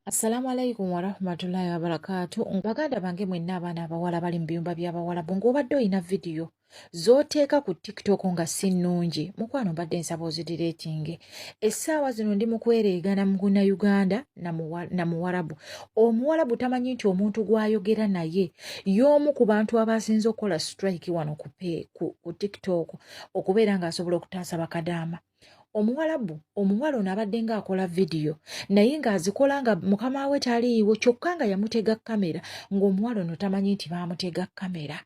Assalamu alaikum warahmatullahi wabarakatu baganda bange mwenna abaana abawala bali mu biyumba by'abawalabu ng'obadde olina vidiyo z'oteeka ku tiktok nga si nnungi mukwano mbadde nsaba ozidira ekinge essaawa zino ndi mu kwereegana mu guna uganda na muwarabu omuwarabu tamanyi nti omuntu gw'ayogera naye y'omu ku bantu abaasinze okukola strike wano ku tiktok okubeera ng'asobola okutaasa bakadaama omuwalabu omuwala ono abadde nga akola vidiyo naye ng'azikola nga mukama we taliiwo kyokka nga yamutega kamera ng'omuwala ono tamanyi nti baamutega kamera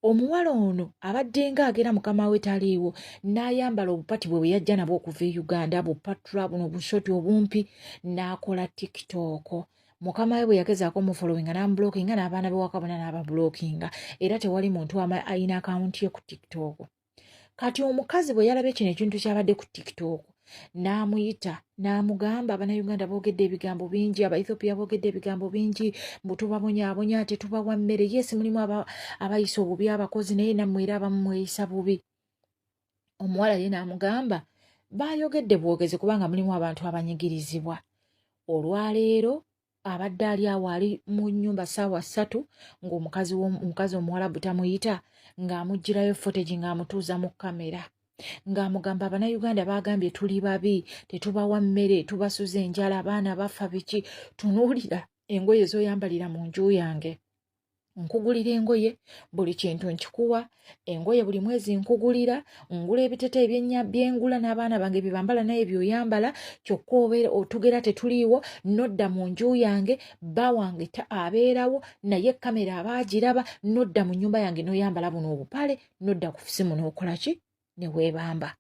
omuwala ono abadde nga agera mukama we taliiwo n'ayambala obupati bwe bwe yajja nabwo okuva e uganda bupatula buno bushoti obumpi n'akola tikitooko mukama we bwe yagezaako omufolowinga n'amubulokinga n'abaana bewakabona n'ababulokinga era tewali muntu alina akawunti ye ku tikitooko kati omukazi bwe yalabye kino ekintu kyabadde ku tiktok n'amuyita n'amugamba abanauganda boogedde ebigambo bingi abaethiopia boogedde ebigambo bingi mbu tubabonyabonya ate tubawa mmere yesi mulimu abayisa obubi abakozi naye nammwe era abamu mweyisa bubi omuwala ye n'amugamba baayogedde bwogezi kubanga mulimu abantu abanyigirizibwa olwaleero abadde ali awo ali mu nyumba saawa ssatu ngaomukazi omukazi omuwalabu tamuyita ng'amugirayo footage ng'amutuuza mu kamera ng'amugamba abanauganda baagambye tuli babi tetubawa mmere tubasuza enjala abaana bafa biki tunuulira engoye zoyambalira mu nju yange nkugulira engoye buli kintu nkikuwa engoye buli mwezi nkugulira ngula ebitete ebyenya byengula n'abaana bange byebambala naye byoyambala kyokka obeera otugera tetuliiwo nodda mu nju yange bba wange abeerawo naye kamera aba agiraba nodda mu nyumba yange noyambala buno obupale nodda ku simu nokolaki ne weebamba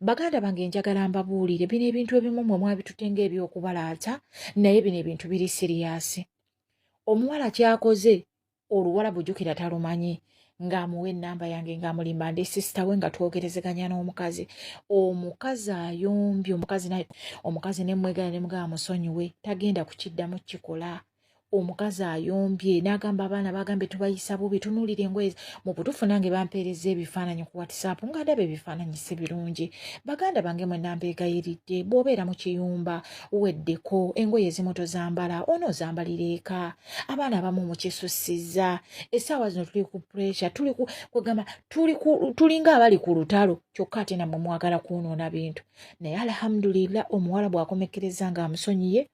baganda bange njagala mbabuulire bino ebintu ebimu mwe mwabitute ng'ebyokubalaata naye bino ebintu biri siriyaasi omuwala kyakoze oluwala bujukira talumanyi ng'amuwa ennamba yange ng'amulimba ndi sisita we nga twogerezeganya n'omukazi omukazi ayombye omukazi naye omukazi ne mmwegala ne mugaba musonyiwe tagenda kukiddamu kikola omukazi ayombye n'agamba abaana bagambye tubayisa bubi tunuulira engoye mu butuufu nange bampeereza ebifaananyi ku whatsapp nga ndaba ebifaananyi si birungi baganda bange mwe nambeegayiridde bw'obeera mu kiyumba weddeko engoye ezimu tozambala onoozambalira eka abaana abamu mukisussizza essaawa zino tuli ku puresha tuli kwegamba tulinga abali ku lutalo kyokka ate namwe mwagala kwonoona bintu naye alhamdulillah omuwala bw'akomekkereza ng'amusonyiye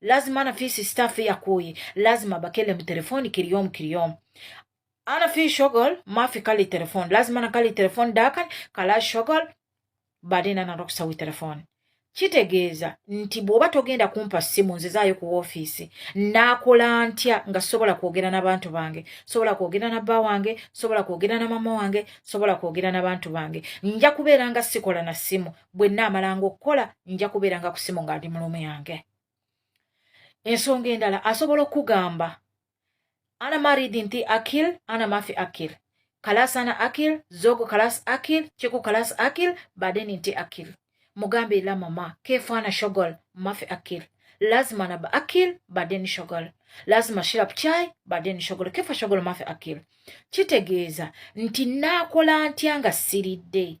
lazima ana fi si staff ya koyi lazima bakele mu telefoni kiriyom kiriyom ana fi shogol ma fi kali telefon lazima na kali telefon dakan kala shogol baden ana roksa wi telefon kitegeeza nti bw'oba togenda kumpa ssimu nzizaayo ku woofiisi naakola ntya nga sobola kwogera n'abantu bange sobola kwogera na bba wange sobola kwogera na mama wange sobola kwogera n'abantu bange nja kubeera nga sikola na ssimu bwe nnaamalanga okukola nja kubeeranga ku simu nga ndi mulumu yange ensonga endala asobola okugamba ana maridi nti akil ana mafi akil kalasi ana akil zogo kalasi akil kiku kalasi akil badeni nti akil mugambe ila mama kefaana shogol mafi akil lazima naba akil badeni shogol lazima shirap chai badeni shogol kefa shogol mafi akil kitegeeza nti naakola ntya nga siridde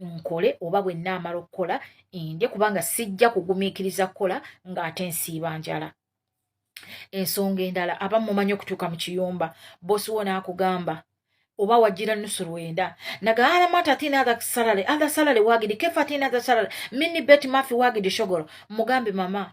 nkole oba bwe nnaamala okukola ndye kubanga sijja kugumiikiriza kukola ng'ate nsiiba njala ensonga endala aba mumanyi okutuuka mu kiyumba bosi wo n'akugamba oba wajira nusu lwenda nagaala mata tina atha salary atha salary wagidi kefa tina atha salary mini bet mafi wagidi shogoro mugambe mama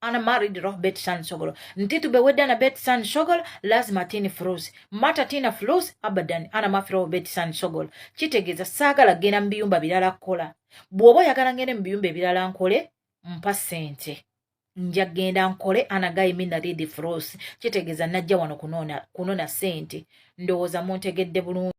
ana married roh bet san sogolo ntitu be wedda na bet san sogolo lazima tini froze mata tina froze abadan ana mafi roh bet san sogolo kitegeza sagala gena mbiyumba bilala kola bwobo yagala ngene mbiyumba bilala nkole mpa sente nja genda nkole ana guy mina read froze kitegeza najja wano kunona kunona sente ndowoza muntegedde bulungi